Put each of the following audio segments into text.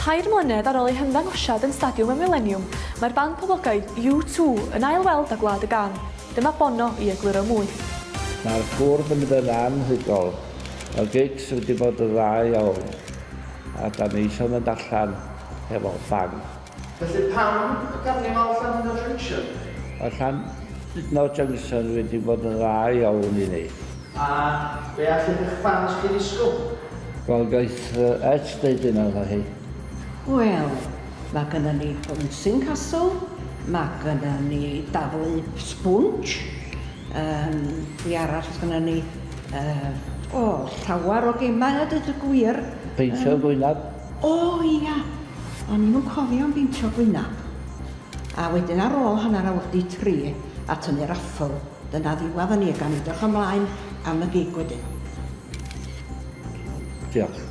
Tair mlynedd ar ôl eu hymddangosiad yn Stadiwm y Mileniwm, mae'r band poblogaidd U2 yn ail-weld â Gwlad y Gân. Dyma Bono i egluro mwy. Mae'r bwrdd yn mynd yn anhygoel. Mae'r gigs wedi bod yn dda iawn a dan ni eisiau mynd allan hefo bang. Felly pam y carnifal Llandudno Junction? Mae Llandudno Junction wedi bod yn dda iawn i ni. A be all eich ffans chi ddisgwyl? Wel, gaeth Ed deud hynna, wrtha hi. Wel, mae gynnon ni bouncing castle, mae gynnon ni daflu sbwnsh, yym, be arall sydd gynnon ni? Yy, o, llawer o gemau a deud y gwir. Peintio gwynab. O ia! O'n i'm yn cofio am beintio gwynab. A wedyn ar ôl hanner awr 'di tri a tynnu raffl. Dyna ddiwadd o ni, gawn ni edrych ymlaen am y gig wedyn. Diolch.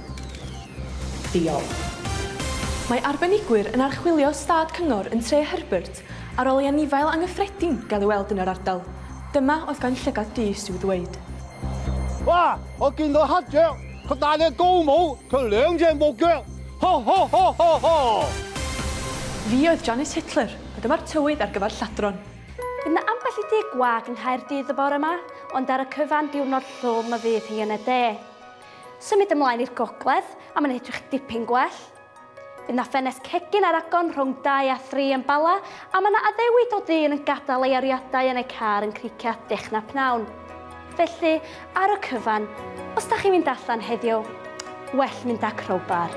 Diolch. Mae arbenigwyr yn archwilio stad cyngor yn Tre Herbert ar ôl i anifail anghyffredin gael ei weld yn yr ardal. Dyma oedd gan Llygad Duys i'w ddweud. Wa, o gyn o hadel, cadal y gomo, tyleng gen bogel. Ho ho ho ho ho! Fi oedd Janice Hitler, a dyma'r tywydd ar gyfer lladron. Bydd 'na ambell i dŷ gwag yng Nghaerdydd y bore yma, ond ar y cyfan diwrnod llwm y fydd hi yn y de. Symud ymlaen i'r gogledd a mae'n edrych dipyn gwell. Bydd 'na ffenest cegin ar agor rhwng 2 a 3 yn Bala a mae 'na addewid o ddyn yn gadael ei ariadau yn ei car yn Cricieth Dechna Pnawn. Felly, ar y cyfan, os da chi'n mynd allan heddiw, well mynd â crowbar.